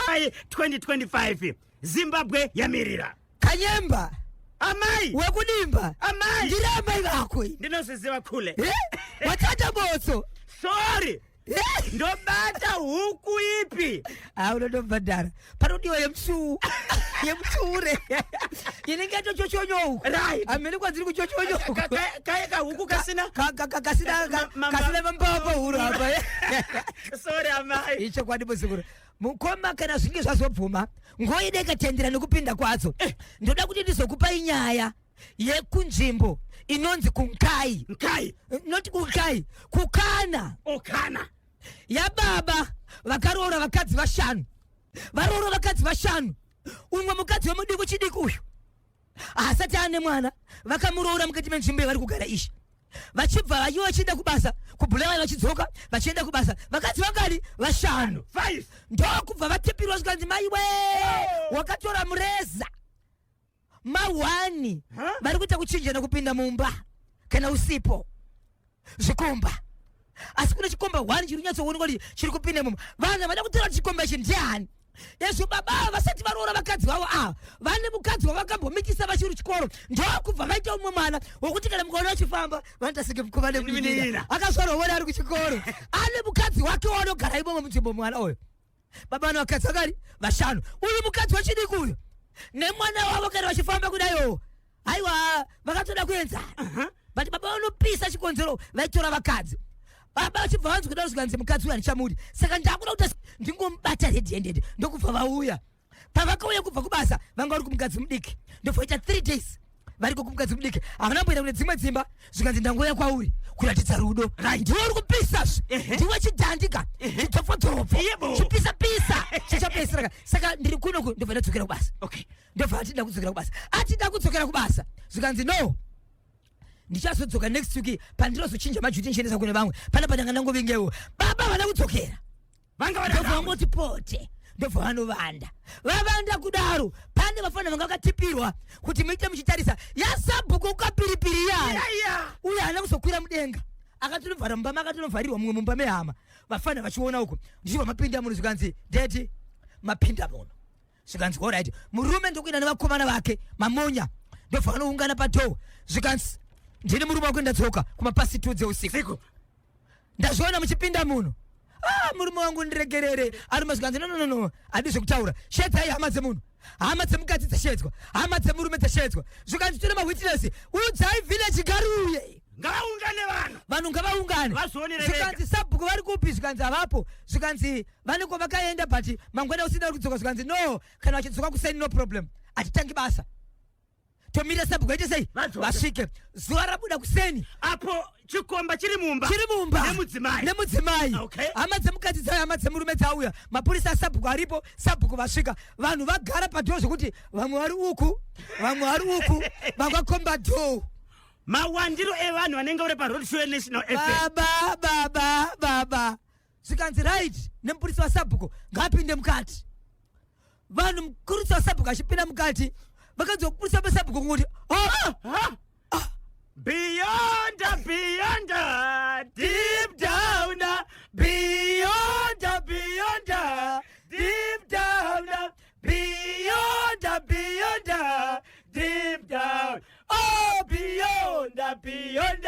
ai 2025 zimbabwe yamirira kanyemba amai wekudimba amai ndiri amai vako ndinozviziva khule watata botso sorry ndobata huku ipi ha unondobhadhara panodiwa yemsuu yemsure inenge yatochochonyouka hamene kwadziri kuchochonyouka kaye kahuku kasina kasina kasina mambava pahuro apa sorry amai ichokwadi muzukuru mukoma kana zvinge zvazobvuma ngoide katendera nekupinda kwadzo eh. ndoda kuti ndizokupai nyaya yekunzvimbo inonzi kunkai nkai not kunkai kukana okana oh, yababa vakaroora vakadzi vashanu varoora vakadzi vashanu umwe mukadzi wemudiki chidiki uyu haasati ane mwana vakamuroora mukati menzvimbo yavari kugara izvi vachibva vayo vachienda kubasa kubulawayo vachidzoka vachienda kubasa vakadzi vangani vashanu ndokubva vatepirwa zvikanzi mai we oh. wakatora mureza mahwani vari kuita kuchinjana kupinda mumba kana usipo zvikomba asi kune chikomba one chiri nyatsoonekwa kuti chiri kupinda imomo vanhu vada kutora kuti chikomba ichi ndiani ezvo baba ava vasati varoora vakadzi vavo ava vane mukadzi wavakambomitisa vachiri chikoro ndokubva vaita umwe mwana wokuti kana mukaona vachifamba vanoita senge mukoma nemuninira akazvarwa wona ari kuchikoro ane mukadzi wake wanogara imomo munzvimbo mwana uyo baba vane vakadzi vakari vashanu uyu mukadzi wechidiki uyu nemwana wavo kana vachifamba kudaio haiwa vakatoda kuenzana but baba vanopisa chikonzero vaitora vakadzi baba vachibva vanzi kudaro zvikanzi mukadzi uyu handichamudi saka ndakuda kuti asi ndingomubata redi hendede ndokubva vauya pavakauya kubva kubasa vanga vari kumukadzi mudiki ndofoita three days variko kumukadzi mudiki havana kumboenda kune dzimwe dzimba zvikanzi ndangouya kwauri kuratidza rudo ndiwe uri kupisa zve ndiwe chidhandika chidzofodzofo chipisa pisa chichapesiraka saka ndiri kunoku ndobva ndadzokera kubasa ndobva atida kudzokera kubasa atida kudzokera kubasa zvikanzi no ndichazodzoka next week pandirozochinja majuti ndichiendesa kune vamwe panapa ndanga ndangovingewo baba havana kudzokera vanga vada ndobva vangoti pote ndobva vanovanda vavanda kudaro pane vafana vanga vakatipirwa kuti muite muchitarisa yasabhuku ukapiripiri yaya Iya, iya. uye haana kuzokwira mudenga akatonovhara mumba make akatonovharirwa mumwe mumba mehama vafana vachiona uko ndichibva mapinda muno zvikanzi dedi mapinda muno zvikanzi horaiti murume ndokuenda nevakomana vake mamonya ndobva vanoungana padhoo zvikanzi ndini murume wako ndadzoka kumapasi two dzeusiku ndazviona muchipinda muno ah, murume wangu ndiregerere arume zvikanzi nononono adi zvekutaura shedzai hama dzemunhu hama dzemukadzi dzashedzwa hama dzemurume dzashedzwa zvikanzi tine mawitness udzai village garuye ngavaungane vanhu vanhu ngavaungane zvikanzi sabhuku vari kupi zvikanzi havapo zvikanzi vane kwavakaenda but mangwana usina kudzoka zvikanzi no kana vachidzoka kuseni no problem hatitangi basa tomira sabhuku aite sei vasvike zuva rabuda kuseni apo chikomba chiri mumba chiri mumba nemudzimai nemudzimai okay. hama dzemukadzi dzayo hama dzemurume dzauya mapurisa asabhuku aripo sabhuku vasvika vanhu vagara padhoo zvekuti vamwe vari uku vamwe vari uku vakakomba dhoo mawandiro evanhu vanenge uri paroad show national fm baba baba baba zvikanzi right nemupurisa wasabhuku ngaapinde mukati vanhu mupurisa wasabhuku achipinda mukati vakanzwa kupurisa pasabhuku kunguti oh! Beyond, beyond, deep down, beyond, beyond, deep down, beyond, beyond, deep down, oh, beyond, beyond.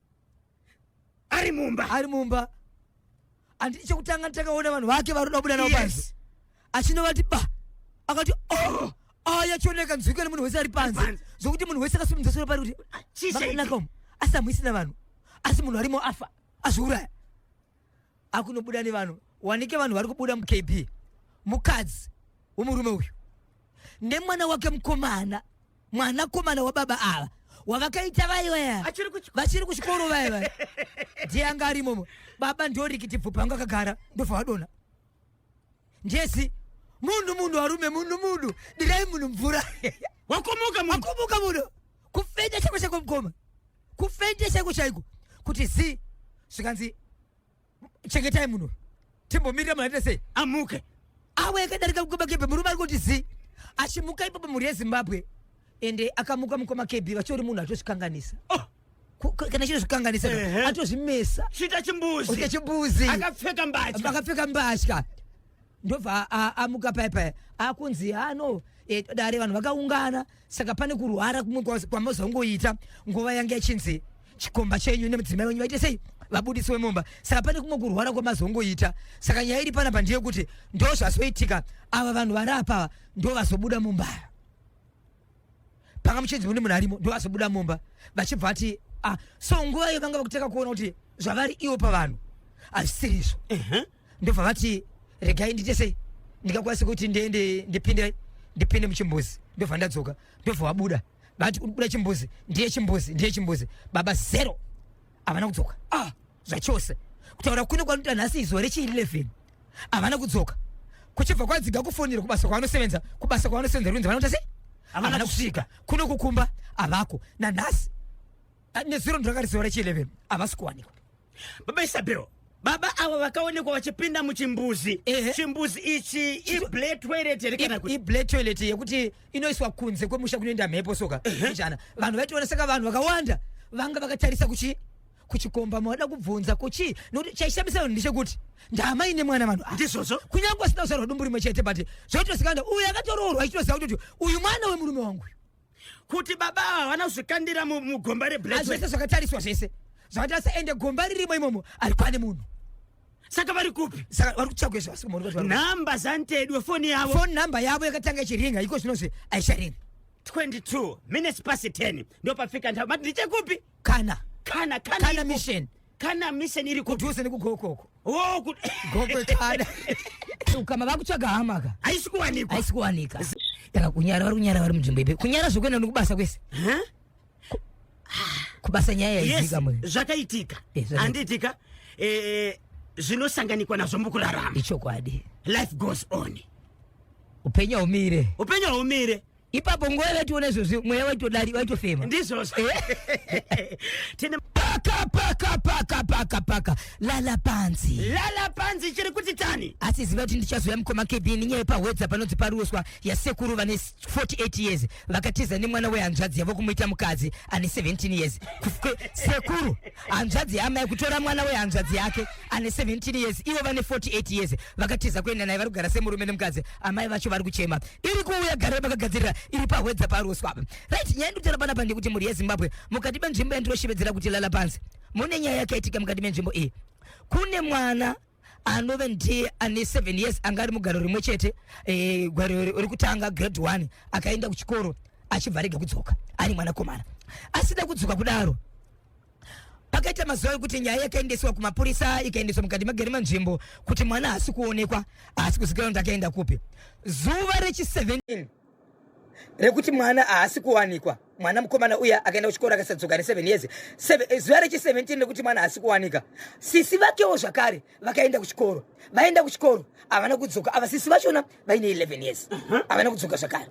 ari mumba ari mumba anditi chekutanga nditakaona vanhu vake varoda kubuda navo panze yes. achinovati ba akati oh aya chioneka nzwika nemunhu wese ari panze zvokuti munhu wese akasimudza soro pari kuti asi amuisina vanhu asi munhu arimo afa azviuraya akunobuda nevanhu wanike vanhu vari kubuda mukb mukadzi womurume uyu nemwana wake mukomana mwana komana wababa ava wavakaita vai vaya vachiri kuchikoro vaya vaya ndiye anga arimomo baba ndorikiti bvupa anga akagara ndobva vadona Njesi munhu munhu warume munhu munhu dirai munhu mvura wakumuka munhu wakumuka munhu kufenda chako chako mkoma kufenda chako chaiko kuti zi zvikanzi chengetai munhu timbomirira munhu aita sei amuke awe akadarika mkoma kebe murume ari kuti zi achimuka ipapo mhuri yezimbabwe ende akamuka mukoma kb vachiori munhu atozvikanganisa oh. kana chiro zvikanganisa atozvimesa chita chimbuzi chita chimbuzi akapfeka mbatya akapfeka mbatya ndobva amuka paya paya akunzi hano e, dare vanhu vakaungana saka pane kurwara kumwe kwamazongoita nguva yange yachinzi chikomba chenyu nemudzimai wenyu vaite sei vabudisi wemumba saka pane kumwe kurwara kwamazongoita saka nyaya iri pana pandiyekuti ndozvazoitika ava vanhu vari apava ndovazobuda mumbaya panga muchinzi mune munhu arimo ndo azobuda mumba vachibva ati ah, so nguva iyo vanga vakutanga kuona kuti zvavari ivo pavanhu hazvisiri izvo ndobva vati regai ndiite sei ndingakwanisa kuti ndiende ndipinde ndipinde muchimbuzi ndobva ndadzoka ndobva wabuda vati uri kubuda chimbuzi ndiye chimbuzi ndiye chimbuzi baba zero havana kudzoka ah. zvachose kutaura kuno kwanoita nhasi izuva rechi11 havana kudzoka kuchibva kwadziga kufonera kubasa kwavanosevenza kubasa kwavanosevenza runzi vanoita sei havana kusvika kuno kukumba havako nanhasi ah, nezuro ndirakati zuva rechi11 havasi kuwanikwa baba isabel baba avo vakaonekwa vachipinda muchimbuzi chimbuzi ichi ible toilet here kana kuti ible toilet yekuti inoiswa kunze kwemusha kunoenda mhepo soka ijana vanhu vaitoona saka vanhu vakawanda vanga vakatarisa kuchi kuchikomba mavada kubvunza kuchii nokuti chaishamisa vanhu ndechekuti ndaamai nemwana vanhu ndizvozvo kunyange asina kuzvarwa dumbu rimwe chete but zvotosikanda uyu akatoroorwa ichitoziva kuti kuti uyu mwana wemurume wangu kuti baba ava havana kuzvikandira mugomba reblaazvese zvakatariswa zvese zvakatarisa ende gomba ririmo imomo ari kwane munhu saka vari kupi saka vari kutsvagwe zvasinhamba zantedwe foni yavo foni nhamba yavo yakatanga ichiringa iko zvinozve aisharinga 22 minutes pasi 10 ndopafika ndhamba ndichekupi kana kana kana kana iripo- mission kana mission iri kuti kudhuze nekugokoko oh kuti gokwe kana ukama vakutsvaga hama ka haisi kuwanikwa haisi kuwanika taka kunyara vari kunyara vari munzvimbo ipi kunyara zvekuenda nekubasa kwese Huh? kubasa nyaya yes yaizika mwe zvakaitika Eh, zvakaitika. handiitika eh, zvinosanganikwa nazvo mukurarama ichokwadi life goes on upenyu haumire upenyu haumire ipapo nguva yavaitiona izvozvi mweya waitodari waitofema ndizvozvo eh? tine paka paka paka paka paka lala panzi lala panzi chiri kuti tani asi ziva kuti ndichazoya mukoma kedi nenyaya yepahwedza panonzi paruswa yasekuru vane 48 years vakatiza nemwana wehanzvadzi yavo kumuita mukadzi ane 17 years sekuru hanzvadzi yaamai kutora mwana wehanzvadzi yake ane 17 years ivo vane 48 years vakatiza kuenda naye vari kugara semurume nemukadzi amai vacho vari kuchema iri kuuya gare vakagadzirira iri pahwedza paroswa apa right nyaya ndikutaura panapa ndekuti mhuri yezimbabwe mukati menzvimbo yandinoshevedzera kuti lala panzi mune nyaya yakaitika mukati menzvimbo iyi kune mwana anove ndiye ane 7 years anga ari mugaro rimwe chete eh, gwaro ri- rekutanga grade 1 akaenda kuchikoro achibva arega kudzoka ari mwanakomana asina kudzoka kudaro pakaita mazuva ekuti nyaya yakaendeswa kumapurisa ikaendeswa mukati magere manzvimbo kuti mwana haasi kuonekwa haasi kuzikanwa kuti akaenda kupi zuva rechi 17 rekuti mwana haasi kuwanikwa mwana mukomana uya akaenda kuchikoro akasadzoka neseven years eh, zuva rechi17 rekuti mwana haasi kuwanika sisi vakewo zvakare vakaenda kuchikoro vaenda kuchikoro havana kudzoka ava sisi vachona vaine 11 years mhm. havana kudzoka zvakare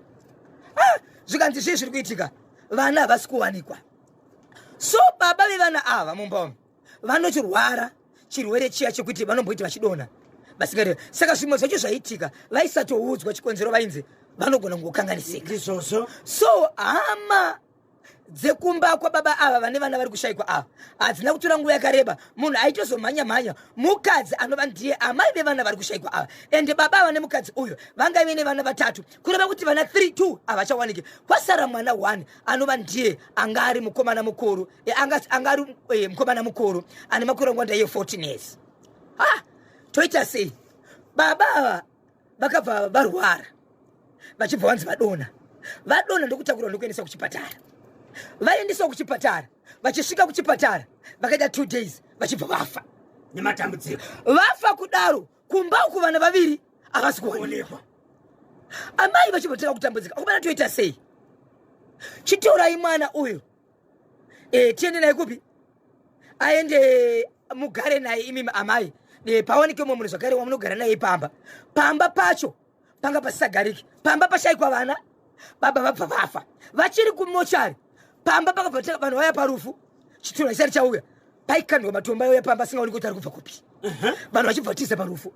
ah, zvikanzi zvii zviri kuitika vana havasi kuwanikwa so baba vevana ava mumba umu vanochirwara chirwere chiya chekuti vanomboiti vachidonha vasingati saka zvimwe zvacho zvaitika vaisatoudzwa chikonzero vainzi vanogona kungokanganisika ndizvozvo so hama dzekumba kwababa ava vane vana vari kushaikwa ava hadzina kutora nguva yakareba munhu aitozomhanya mhanya mukadzi anova ndiye amai vevana vari kushaikwa ava ende baba ava nemukadzi uyu vanga vene vana vatatu kureva kuti vana 3 2 havachawaniki kwasara mwana 1 anova ndiye anga ari mukomana mukuru anga anga ari eh, mukomana mukuru ane makore ngwanda ye 14 years ha toita sei baba ava vakabva varwara vachibva vanzi vadona vadona ndokutakurwa ndokuendeswa kuchipatara vaendeswa kuchipatara vachisvika kuchipatara vakaita two days vachibva vafa nematambudziko vafa kudaro kumba uku vana vaviri havasi kuonekwa amai vachibva tanga kutambudzika kumana toita sei chitorai mwana uyu e, tiende naye kupi aende mugare naye imimi amai e, pawanike umwe munhu zvakare wamunogara naye pamba pamba pacho panga pasisagariki pamba pashaikwa vana baba vabva vafa vachiri kumochari pamba pakabva tanga vanhu vaya parufu chitunha chisati chauya paikandwa matombo ayouya pamba asingaoni kuti ari kubva kupi vanhu vachibva tiza parufu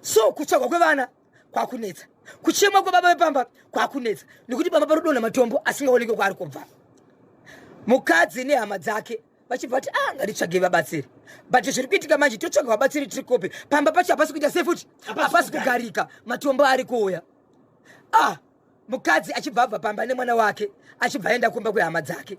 so kutsvagwa kwevana kwakunetsa kuchema kwebaba vepamba kwakunetsa nekuti pamba parodonha matombo asingaonekwe kwaari kubva mukadzi nehama dzake vachibva vati ah ngatitsvage vabatsiri but zviri kuitika manje totsvaga vabatsiri tiri kopi pamba pacho hapasi kuita sei futi hapasi kugarika matombo ari kuuya ah Mukadzi achibva abva pamba nemwana wake achibva aenda kumba kwehama dzake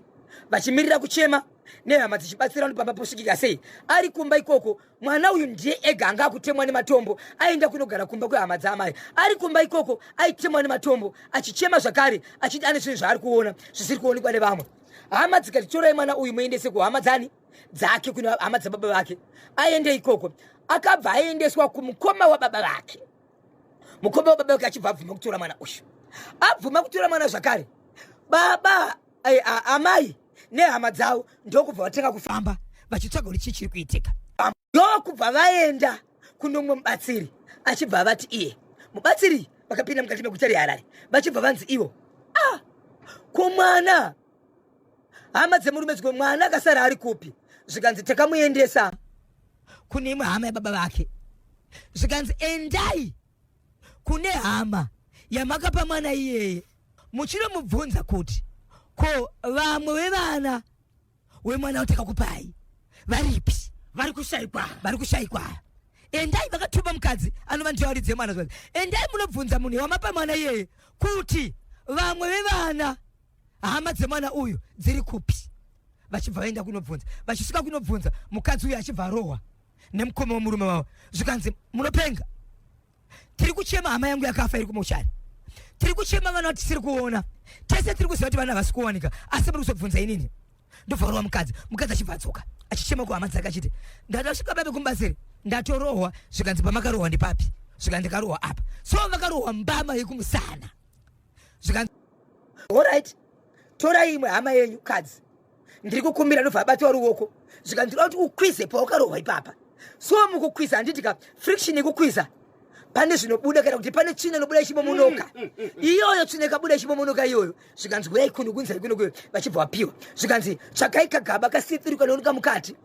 vachimirira kuchema nehama dzichibatsira kuti pamba posvikika sei ari kumba ikoko mwana uyu ndiye ega anga akutemwa nematombo aenda kunogara kumba kwehama dzaamai ari kumba ikoko aitemwa nematombo achichema zvakare achiti ane zvinhu zvaari kuona zvisiri kuonekwa nevamwe hama dzikati torai mwana uyu muendese kuhama dzani dzake kune hama dzababa vake aende ikoko akabva aendeswa kumukoma wababa vake mukombe wababa wake achibva abvuma kutora mwana uyu abvuma kutora mwana zvakare baba eh, amai nehama dzavo ndokubva vatanga kufamba vachitsvaga kuti chii chiri kuitika ndokubva vaenda kunomwe mubatsiri achibva avati iye mubatsiri vakapinda mukati meguta reharare vachibva vanzi ivo ah, kumwana hama dzemurume dzimwe mwana akasara ari kupi zvikanzi takamuendesa kune imwe hama yababa vake zvikanzi endai kune hama yamakapa mwana iyeye muchinomubvunza kuti ko vamwe wevana wemwana watakakupai varipi vari kushaikwa vari kushaikwa endai vakatuma mukadzi anova ndiyo aridze mwana zvikanzi endai munobvunza munhu wamapa mwana iyeye kuti vamwe vevana hama dzemwana uyu dziri kupi vachibva vaenda kunobvunza vachisvika kunobvunza mukadzi uyu achibva arohwa nemukoma wemurume wavo zvikanzi munopenga tiri kuchema hama yangu yakafa iri kumochari tiri kuchema vana tisiri kuona tese tiri kuziva kuti vana havasi kuwanika asi muri kuzobvunza inini ndovharwa mukadzi mukadzi achibva adzoka achichema kuhama dzake achiti ndada kusvika babe kumbasiri ndatorohwa zvikanzi pamakarohwa ndipapi zvikanzi ndakarohwa apa so vakarohwa mbama yekumusana zvikanzi orit torai imwe hama yenyu kadzi ndiri kukumbira ndobva abatiwa ruoko zvikanzi ndoda kuti ukwize pawakarohwa ipapa so mukukwiza handiti ka friction yekukwiza pane zvinobuda kana kuti pane tsvina inobuda ichibomonoka mm, mm, mm, iyoyo tsvina ikabuda ichibomonoka iyoyo zvikanzi huyai kuno kunzai kuno kuyo vachibva vapiwa zvikanzi tsvakai kagaba kasithiruka nooneka mukati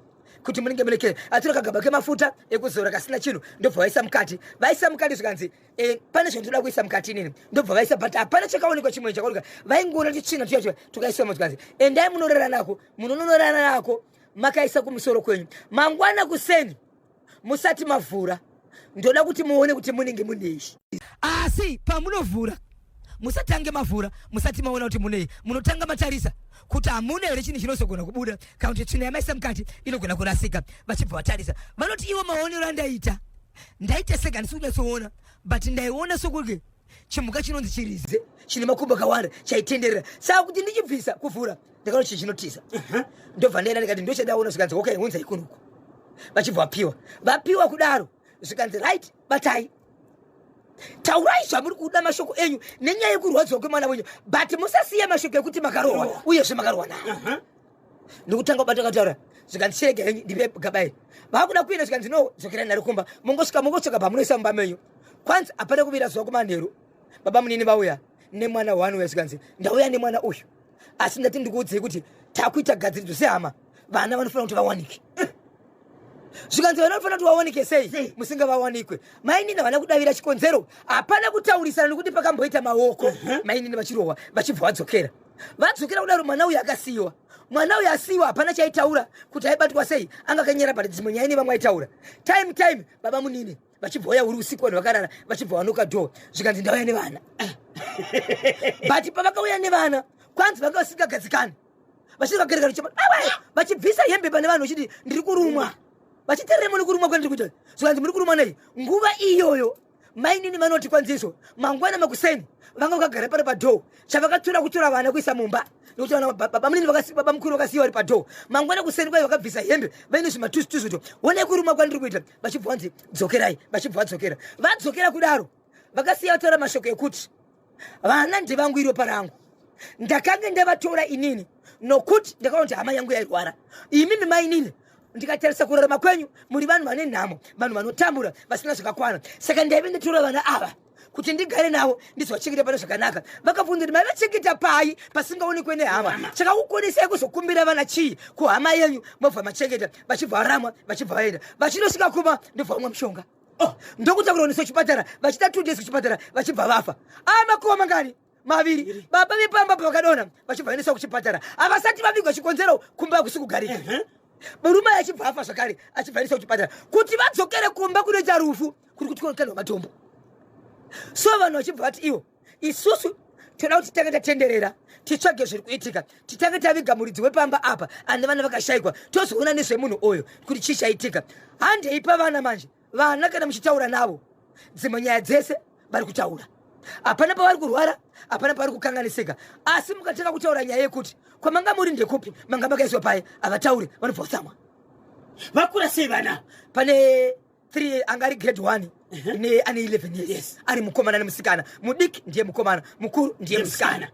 kuti munenge munekere atora kagaba kemafuta ekuzora kasina chinhu ndobva vaisa mukati vaisa mukati zvikanzi Eh, pane zvinhu toda kuisa mukati inini ndobva vaisa but hapana chakaonekwa chimwe chakaoneka vaingoona kuti tsvina tuya tuya tukaisa motikazi endai munorara nako munonorara nako makaisa kumusoro kwenyu mangwana kuseni musati mavhura ndoda kuti muone kuti munenge munei asi pamunovhura musatange mavhura musati maona kuti munei munotanga matarisa kuti hamuna here chinhu chinozogona kubuda kana kuti tsvina yamaisa mukati inogona kurasika vachibva vatarisa vanoti ivo maonero andaita ndaiteseka handisi kunyatsoona but ndaiona sokuti chimhuka chinonzi chirize chine makumbo akawanda chaitenderera saka kuti ndichibvisa kuvhura ndakaona chi chinotiza ndobva ndaenda ndikati ndochadaona zvikanzi okay hunzai kunuku vachibva vapiwa vapiwa kudaro zvikanzi right batai taurai zvamuri kuda mashoko enyu nenyaya yekurwadziwa kwemwana wenyu but musasiye mashoko ekuti makarohwa uyezve makarohwa naye ndikutanga kubata kataura zvikanzi chirega henyu ndipe gaba iri vakuda kuenda zvikanzi no dzokera naro kumba mongosvika mongosvika pamunoisa mumba menyu kwanzi hapana kuvira zuva kumanheru baba munini vauya nemwana waanouya zvikanzi ndauya nemwana uyu asi ndati ndikuudzei kuti takuita gadziridzo sehama vana vanofanira kuti vawanike zvikanzi vana vanofanira kuti vawanike sei musinga vawanikwe mainini havana kudavira chikonzero hapana kutaurisana nekuti pakamboita maoko mainini vachirohwa vachibva vadzokera vadzokera kudaro mwana uyu akasiyiwa mwana uyu asiyiwa hapana chaitaura kuti aibatwa sei anga akanyera but dzimwe nyaya nevamwe aitaura time time baba munini vachibva waya uri usiku vanhu vakarara vachibva wanoka dho zvikanzi ndauya nevana but pavakauya nevana kwanzi vanga vasingagadzikani vachivakarekara vachibvisa hembe pane vanhu vachiti ndiri kurumwa vachiteremo nekurumwa kwandiri kuita zvikanzi muri kurumwa nei nguva iyoyo mainini vanoti kwanzi izvo mangwana makuseni vanga vakagara pano padhoo chavakatora kutora vana kuisa mumba nekuti vana babamunini baba mukuru vakasiya vari padhoo mangwana kuseni kwaye vakabvisa hembe vaine zvimatuzutuzu to wonai kuruma kwandiri kuita vachibva vanzi dzokerai vachibva vadzokera vadzokera kudaro vakasiya vataura mashoko ekuti vana ndevangu iro parangu ndakange ndavatora inini nokuti ndakaona kuti hama yangu yairwara imimi mainini ndikatarisa kurarama kwenyu muri vanhu vane nhamo vanhu vanotambura vasina zvakakwana saka ndaive nditora vana ava kuti ndigare navo ndizovachengeta pane zvakanaka vakabvunza kuti maivachengeta pai pasingaonekwe nehama chakakukonesai kuzokumbira vana chii kuhama yenyu mobva machengeta vachibva varamwa vachibva vaenda vachinosvika kuma ndobva vamwa mushonga oh, ndokutakurwa nesu chipatara vachita two days kuchipatara vachibva vafa aa ah, makuva mangani maviri baba vepamba pavakadona vachibva vaendeswa kuchipatara havasati vavigwa chikonzero kumba hakusi kugarika uh -huh murume aye achibva afa zvakare achibva aendesa kuchipatara kuti vadzokere kumba kunoita rufu kuri kuti kunokanwa matombo so vanhu vachibva vati ivo isusu toda kuti titange tatenderera titsvage zviri kuitika titange taviga muridzi wepamba apa ane vana vakashayikwa tozoona nezvemunhu oyo kuti chii chaitika handei pavana manje vana kana muchitaura navo dzimwe nyaya dzese vari kutaura hapana pavari kurwara hapana pavari kukanganisika asi mukatanga kutaura nyaya yekuti kwamanga muri ndekupi manga makaiswa paye havatauri vanobva kutsamwa vakura sei vana pane 3 anga ari grade 1 ne ane 11 years Yes. ari mukomana nemusikana mudiki ndiye mukomana mukuru ndiye musikana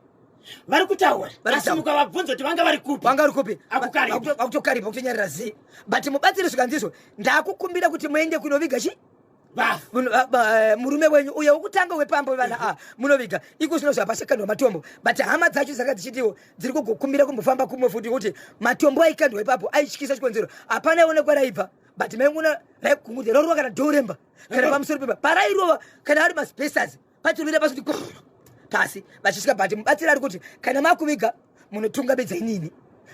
vari kutaura Vari asi kutaura. mukavabvunza kuti vanga vari kupi vanga uri kupi Akukaripa. Vakuto- vakutokaripa kutonyarira zii but mubatsiri zvikanzizvo ndakukumbira kuti muende kunoviga chi bafu Muno- ah, ba- eh, murume wenyu uye wokutanga wepamba wevana a munoviga iko zvino zvapashakandwa matombo but hama dzacho dzanga dzichitiwo dziri kugokumbira kumbofamba kumwe futi kuti matombo aikandwa ipapo aityisa chikonzero hapana one kwaraibva but maingona raikungudza rorova kana doremba kana pamusoro pemba parairova kana ari maspesazi pachirovera pasi kuti pasi vachisvika but mubatsiri ari kuti kana makuviga munotunga bedza inini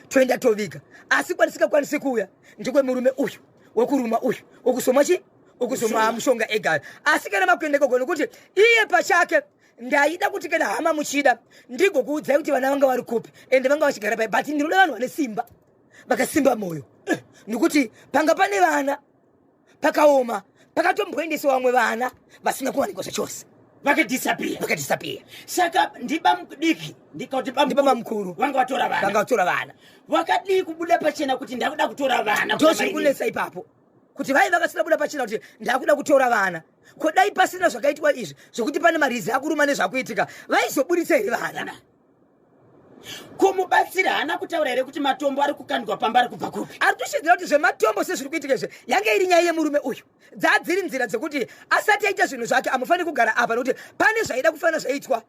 toenda toviga asi kwatisingakwanisi kuuya ndikwe murume uyu wekuruma uyu wekusoma chi wekusoma mushonga egari asi kana makuenda ikoko nokuti iye pachake ndaida kuti kana hama muchida ndigokuudzai kuti vana vanga vari kupi ende vanga vachigara pai but ndinoda vanhu vane simba vakasimba moyo eh, nekuti panga pane vana pakaoma pakatomboendesa vamwe vana vasina kuwanikwa zvachose vakadisappear vakadisappear saka ndibamudiki ndikauti bamukuru vanga vatora vana vanga vatora vana vakadii kubuda pachena kuti ndakuda kutora vana ndozviri kunetsa ipapo kuti vai vakasina kubuda pachena kuti ndakuda kutora vana ko dai pasina zvakaitwa izvi zvekuti pane marizi akuruma nezvakuitika vaizoburitsa here vana ko mubatsiri haana kutaura here kuti matombo ari kukandwa pamba ari kubva kupi ari kushidzira kuti zvematombo sezviri kuitika izve yange iri nyaya yemurume uyu dzaa dziri nzira dzekuti asati aita zvinhu zvake amufaniri kugara apa nokuti pane zvaida kufanira zvaitwa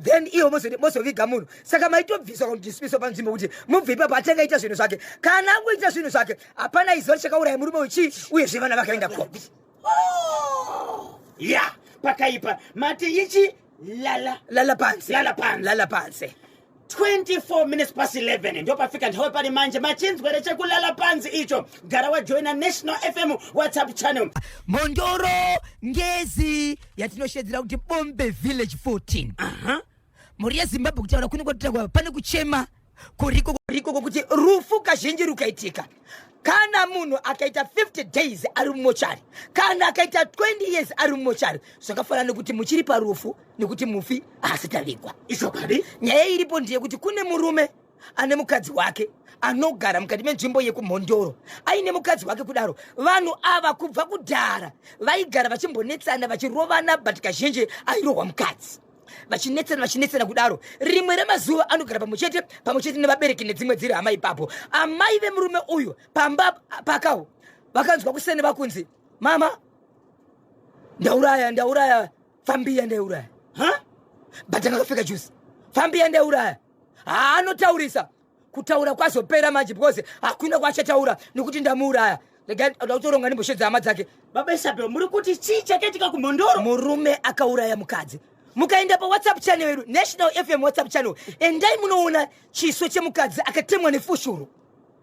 then iwo mozoviga munhu saka maitobviswa kudismiswa panzvimbo kuti mubve ipapo atanga ita zvinhu zvake kana angoita zvinhu zvake hapana iziva chakauraya murume uyu chii uyezve vana vakaenda kopi oh! ya pakaipa mati ichi lala lala pansi lala pansi lala pansi 24 minutes past 11 ndopafika nthawi pari manje machinzwere chekulala pansi icho gara wajoina national fm whatsapp channel mhondoro ngezi yatinoshedzera kuti bombe village 14 mhuri yezimbabwe kutaura kunenge kutangwa pane kuchema kuriko kuriko kwokuti rufu kazhinji rukaitika kana munhu akaita 50 days ari mumochari kana akaita 20 years ari mumochari zvakafanana nekuti muchiri parufu nekuti mufi haasi tavigwa izvokadi nyaya iripo ndeyekuti kune murume ane mukadzi wake anogara mukati menzvimbo yekumhondoro aine mukadzi wake kudaro vanhu ava kubva kudhara vaigara vachimbonetsana vachirovana but kazhinji airohwa mukadzi vachinetsana vachinetsana kudaro rimwe remazuva anogara pamwe chete pamwe chete nevabereki nedzimwe dziri hama ipapo amai vemurume uyu pamba pakawo vakanzwa kusene vakunzi mama ndauraya ndauraya fambiya ndauraya ha but akakapfeka juzi fambiya ndauraya haanotaurisa kutaura kwazopera manje because hakuna kwaachataura nekuti ndamuuraya regai oda kutoronga nemboshe dzehama dzake baba isabel muri kuti chii chakaitika kumhondoro murume akauraya mukadzi mukaenda pawhatsapp channel yedu national fm whatsapp channel endai munoona chiso chemukadzi akatemwa nefushuru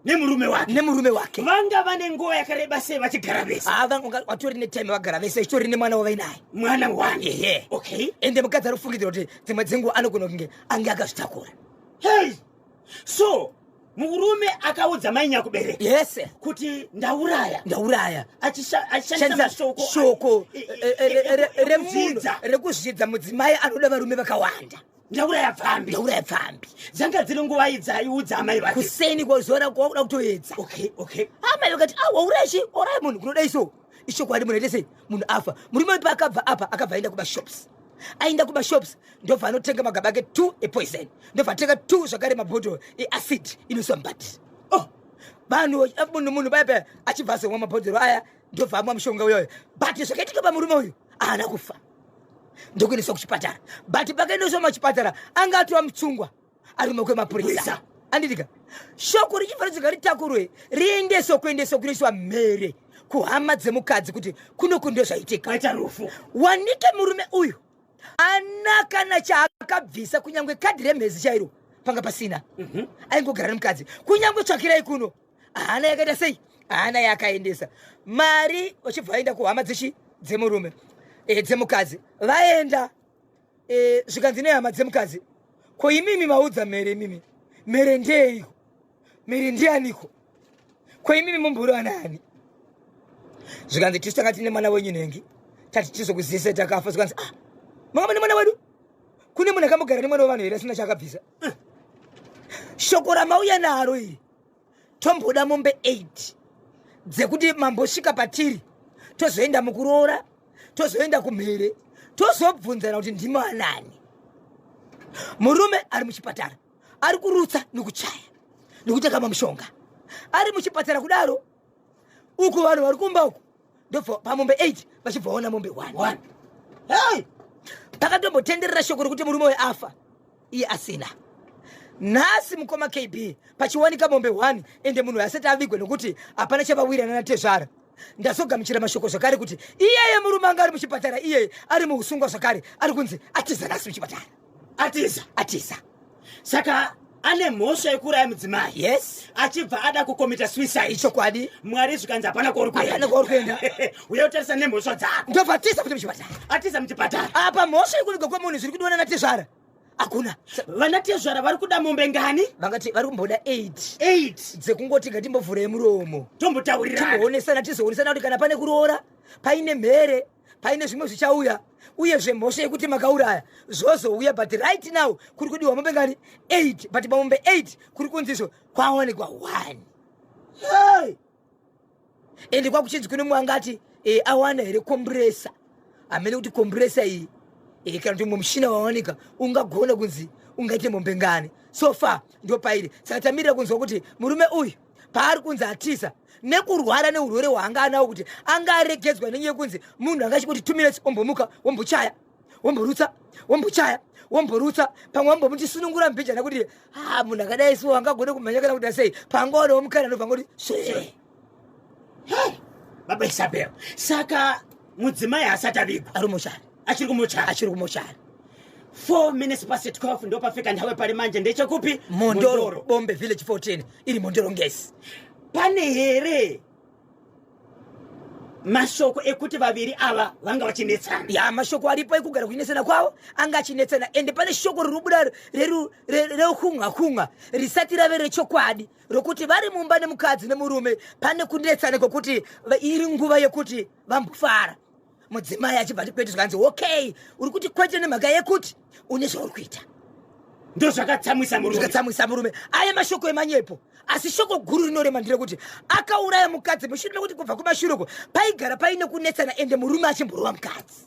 nemurume wake nemurume wake vanga vane nguva yakareba sei vachigara vese ah, vatori netime vagara vese chitori nemwana wavainaye mwana wani ehe okay ende mukadzi ari kufungidzira kuti dzimwe dzenguva anogona kunge ange akazvitakura hey so murume akaudza mai nyakubereka yes kuti ndauraya ndauraya achishandisa shoko e- e- e- remvunza rekuzvidza mudzimai anoda varume vakawanda ndauraya pfambi ndauraya pfambi dzanga dziri nguva idzaiudza amai vake kuseni kwazora kwakuda kutoedza okay okay amai vakati awauraya chi oraya munhu kunoda iso ishokwadi munoita sei munhu afa murume wepa akabva apa akabva aenda kumashops aenda kumashops ndobva anotenga magaba ake two epoison ndobva atenga two zvakare mabhodhoro eacid inoiswa mbati oh vanhu munhu munhu paya paya achibva azomwa mabhodhoro aya ndobva amwa mushonga uyoyo but zvakaitika pamurume uyu aana kufa ndokuendeswa kuchipatara but pakaendeswa machipatara anga atova mutsungwa ari mumaoko emapurisa andidika shoko richifanira kuti ngaritakurwe riendeswa kuendeswa kunoiswa mhere kuhama dzemukadzi kuti kunoku ndo zvaitika aita rufu wanike murume uyu ana kana chaakabvisa kunyange kadhi remhezi chairo panga pasina mhm. aingogara nemukadzi kunyange tsvakirai kuno haana yakaita sei haana yaakaendesa mari vachibva vaenda kuhama dzechi dzemurume eh, dzemukadzi vaenda e, zvikanzi nehama dzemukadzi ko imimi maudza mhere imimi mhere ndeyeiko mhere ndiyaniko ko imimi mumburi wanaani zvikanzi tisu tanga tine mwana wenyu nhengi tati tizokuzise takafa zvikanzi ah mama nemwana wedu kune munhu akambogara nemwana wevanhu here asina chaakabvisa eh. shoko ramauya naro iri tomboda mombe 8 dzekuti mambosvika patiri tozoenda mukuroora tozoenda kumhere tozobvunzana kuti ndimo anani murume ari muchipatara ari kurutsa nekuchaya nekuteka mamushonga ari muchipatara kudaro uku vanhu vari kumba uku ndobva pamombe 8 vachibva vaona mombe 1 hey! takatombotenderera shoko rekuti murume uyo afa iye asina nhasi mukoma kb pachiwanika mombe 1 ende munhu asati avigwe nokuti hapana chavawirana natezvara ndazogamuchira mashoko zvakare kuti iyeye murume anga ari muchipatara iyeye ari muusungwa zvakare ari kunzi atiza nhasi muchipatara atiza atiza saka ane mhosva yekuuraya mudzimai yes achibva ada kukomita suicide ichokwadi mwari zvikanzi hapana kwauri kuenda kwauri kuenda uye utarisa nemhosva dzako ndobvatiza kuti muchipatara atiza muchipatara apa mhosva yekuviga kwemunhu zviri kudiwa nanatezvara hakuna vana tezvara vari kuda mombe ngani vangati vari kumboda 88 dzekungoti ngatimbovhurei muromo tombotaurira timbowonesana tizoonesana kuti kana pane kuroora paine mhere paine zvimwe zvichauya uyezve mhosva yekuti makauraya zvozouya but right now kuri kudiwa mombe ngani 8 but pamombe 8 kuri kunzizvo kwaonekwa 1 hey! ende kwakuchinzi kune mwanga ati e, awana here kombresa amene kuti kombresa iyi e, kana kuti mumwe mushina wawanika ungagona kunzi ungaite mombe ngani so far ndopairi saka tamirira kunzwa kuti murume uyu paari kunzi atiza nekurwara neurwere hwaanga anawo kuti anga aregedzwa nenyaya yekunzi munhu anga achingoti two minutes ombomuka wombochaya womborutsa wombochaya womborutsa pamwe wambomuti sunungura mbijana kuti ha munhu akadai so angagone kumhanya kana kuda sei pangaona womukana anobva ngoti swe baba isabel saka mudzimai asati avigwa ari mushari achiri kumochari achiri kumochari 4 minutes past 12 ndopafika ndawe pari manje ndechekupi mondoro bombe village 14 iri mondoro ngesi pane here mashoko ekuti vaviri ava vanga vachinetsana ya mashoko aripo ekugara kuchinetsana kwavo anga achinetsana ende pane shoko rirobuda reukunga kunga risati rave rechokwadi rokuti vari mumba nemukadzi nemurume pane kunetsana kwekuti iri nguva yekuti vambofara mudzimai achibva ati kwete zvikanzi okay uri kuti kwete nemhaka yekuti une zvauri kuita ndozvakatsamwisa murume zvikatsamwisa murume aya mashoko emanyepo asi shoko guru rinorema nderekuti akauraya mukadzi mushure mekuti kubva kumashure uko paigara paine kunetsana ende murume achimborova mukadzi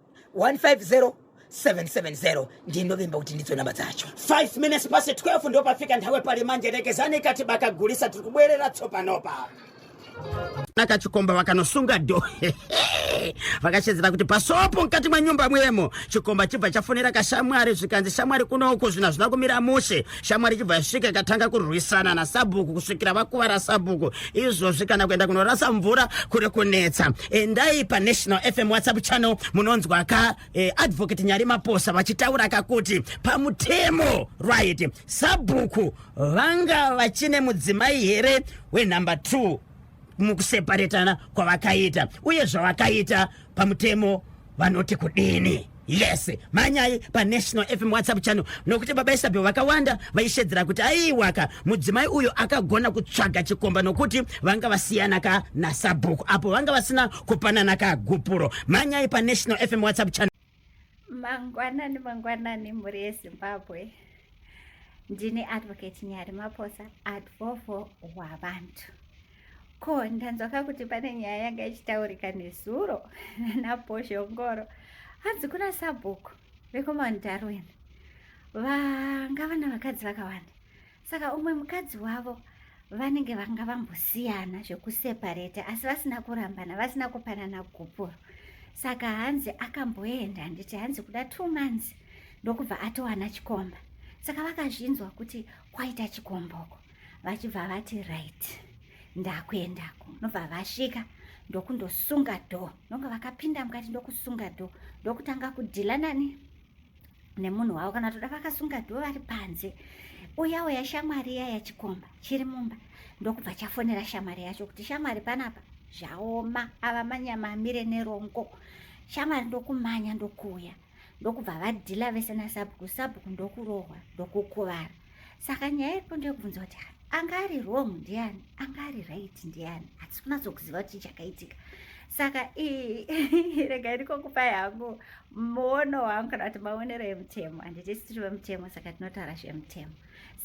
150 770 ndinovimba kuti ndidzo namba dzacho 5 minutes past 12 ndopafika nthawe pali manje rekezani kati bakagulisa tiri kubwerera tsopanopa nakachikomba vakanosunga do vakashedzera kuti pasopo mukati mwenyumba mwemo chikomba chibva chafonera kashamwari zvikanzi shamwari kunouku zvinhu hazvina kumira mushe shamwari ichibva yasvika ikatanga kurwisana nasabhuku kusvikira vakuvara sabhuku izvozvi kana kuenda kunorasa mvura kuri kunetsa endai panational fm whatsapp channel munonzwa ka eh, advocate nyari maposa vachitaura kakuti pamutemo right sabhuku vanga vachine mudzimai here wenumber two mukuseparetana kwavakaita uye zvavakaita pamutemo vanoti kudini yes manyai panational fm whatsapp channel nokuti baba isabel vakawanda vaishedzera kuti aiwaka mudzimai uyo akagona kutsvaga chikomba nokuti vanga vasiyana ka nasabhuku apo vanga vasina kupanana kagupuro manyai panational fm whatsapp channel mangwanani mangwanani mhuri yezimbabwe ndini advocate nyari maposa advovo wavantu ko ndanzwaka kuti pane nyaya yanga ichitaurika nezuro naposhongoro hanzi kuna sabhuku vekumount darwin vanga vana vakadzi vakawanda saka umwe mukadzi wavo vanenge vanga vambosiyana zvekuseparate asi vasina kurambana vasina kupanana gupuro saka hanzi akamboenda handiti hanzi kuda two months ndokubva atowana chikomba saka vakazvinzwa kuti kwaita chikomboko vachibva vati right ndakuendako nobva vasvika ndokundosunga dho ndonga vakapinda mukati ndokusunga dho ndokutanga kudhila nani nemunhu wavo kana toda vakasunga dho vari panze uya uya shamwari iya yachikomba chiri mumba ndokubva chafonera shamwari yacho kuti shamwari panapa zvaoma ava manyama amire nerongo shamwari ndokumanya ndokuuya ndokubva vadhila vese nasabhuku sabhuku ndokurohwa ndokukuvara saka nyaya iripo ndeyokubvunza kuti anga ari wrong ndiani anga ari right ndiani hatisi kunatsokuziva kuti chakaitika saka rega iriko kupa yangu muono wangu kana kuti maonero emutemo handiti sitiri vemutemo saka tinotaura zvemutemo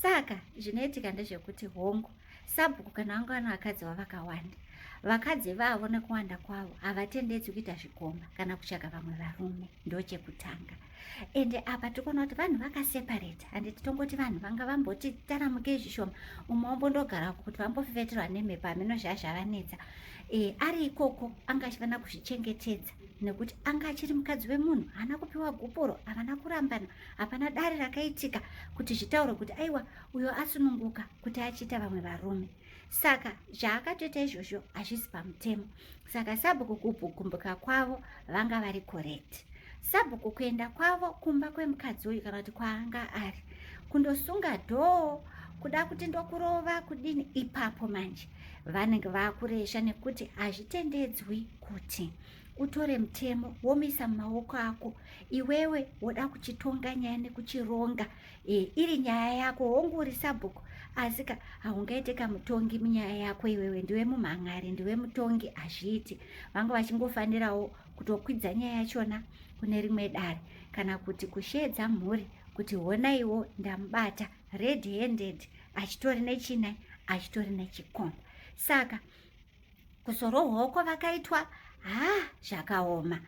saka zvinoitika ndezvekuti hongu sabhuku kana vangu vano vakadzi vavakawanda vakadzi vavo nekuwanda kwavo havatendedzwi kuita zvikomba kana kutsvaga vamwe varume ndochekutanga ende apa tikuona kuti vanhu vakaseparate handi titongoti vanhu vanga vamboti taramuke zvishoma umwe ombondogara uko kuti vambofeveterwa nemhepo hameno zva zvavanetsa e, ari ikoko anga achifanira kuzvichengetedza nekuti anga achiri mukadzi wemunhu haana kupiwa gupuro havana kurambana hapana dare rakaitika kuti zvitaure kuti aiwa uyo asununguka kuti achiita vamwe varume saka zvaakatoita izvozvo hazvisi pamutemo saka sabhuku kugumbuka kwavo vanga vari correct sabhuku kuenda kwavo kumba kwemukadzi uyu kana kuti kwaanga ari kundosunga dhoo kuda kuti ndokurova kudini ipapo manje vanenge vakuresha nekuti hazvitendedzwi kuti utore mutemo womisa mumaoko ako iwewe woda kuchitonga nyaya nekuchironga e, iri nyaya yako hongu uri sabhuku asi ka haungaite kamutongi munyaya yako iwewe ndiwe mumhan'ari ndiwe mutongi hazviiti vanga vachingofanirawo kutokwidza nyaya yachona kune rimwe dare kana kuti kusheedza mhuri kuti honaiwo ndamubata red handed achitori nechinai achitori nechikomba saka kuzorohwoko vakaitwa ha zvakaoma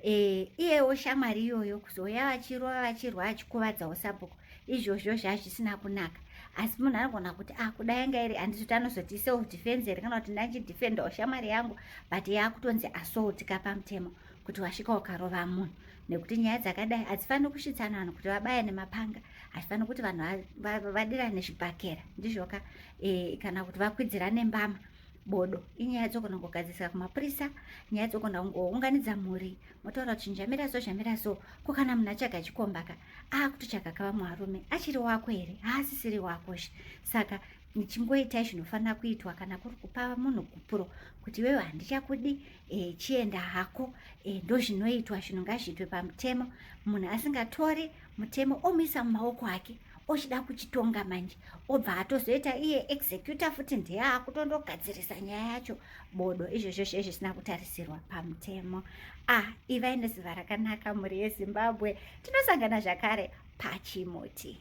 e, iyewo shamwari iyoyo kuzouya vachirova vachirwa achikuvadzawo sabhuku izvozvo zvazvisina kunaka asi munhu anogona kuti ah kuda yanga iri handizoti anozoti self defense here kana kuti ndachidefendawo shamwari yangu but yaakutonzi assault ka pamutemo kuti wasvika ukarova munhu nekuti nyaya dzakadai hadzifaniri kusvitsana vanhu kuti vabaya nemapanga hazvifaniri kuti vanhu vadirane zvibhakera ndizvoka e, kana kuti vakwidzirane mbama bodo inyaya yadzokona kugadzirisa kumapurisa nyaya yadzokona kungounganidza mhuri motaura kuti njamira so zhamira so ko kana munhu achaga chikombaka akutochaga ka vamwe varume achiri wako here haasisiri wako zve saka nichingoitai zvinofanira kuitwa kana kuri kupa munhu gupuro kuti iwewe handichakudi e, chienda hako e, eh, ndozvinoitwa zvinhu ngazviitwe pamutemo munhu asingatori mutemo omuisa mumaoko ake ochida kuchitonga manje obva atozoita iye executor futi ndiye akutondogadzirisa nyaya yacho bodo izvo zveshe zvisina kutarisirwa pamutemo ah ivai neziva rakanaka mhuri yezimbabwe tinosangana zvakare pachimuti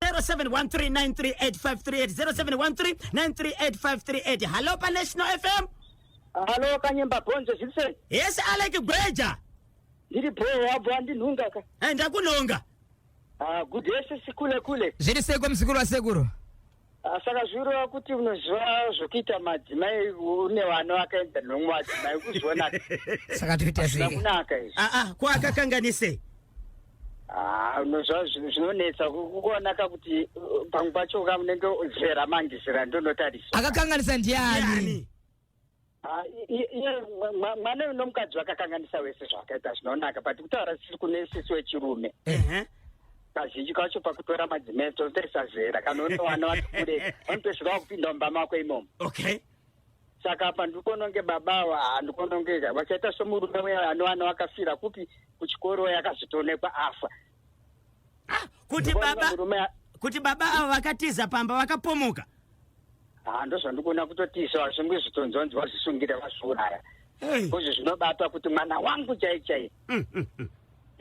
0713938538 hallo panational fm hallo kanyemba bonze zvise yese alek gweja ndiri bho wabva ndinhunga ka eh, ndakunhonga Ah, good day sisi kule kule. Zviri seiko mzukuru wasekuru? Ah, saka zvirowa kuti unoziva zvokuita madzimai une vana vakaenda nomwe madzimai ukuzviona saka toita zvei kunaka izvi aa ah, ah, ko akakanganisei Ah, unoziva zvinhu zvinonetsa kuona ka kuti uh, pamwe pacho ka munenge zera mangisira ndonotarisa akakanganisa ndiani Ah, mwana uyu nomukadzi vakakanganisa wese zvakaita zvinonaka but kutaura sisi kune sisi wechirume kazhinji kacho pakutora madzimai totarisa zera kana une wana wati kure vanotosvika vakupinda mumba mako imomo okay saka apa ndikononge baba ava handikonongeka vachaita somurume uya anowana wakafira kupi kuchikoro yakazitoonekwa afa ah, kuti baba kuti baba avo vakatiza pamba vakapomoka ah, ndozvandikuona kutotiisa vashungwi zvitonzonzi vazvisungire vazviuraya kuzvi zvinobata kuti mwana wangu chai chai mm, mm, mm.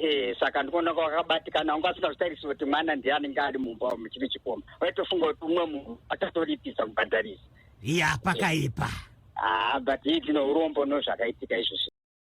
Eh, saka ndikuona kwakabatikana wanga asingazvitarisi kuti mwana ndiye anenge ari mumba umu chiri chikoma waitofunga kuti umwe munhu akatoripisa kubhadharisa ya pakaipa haa ah, but ii tino urombo nozvakaitika izvozvi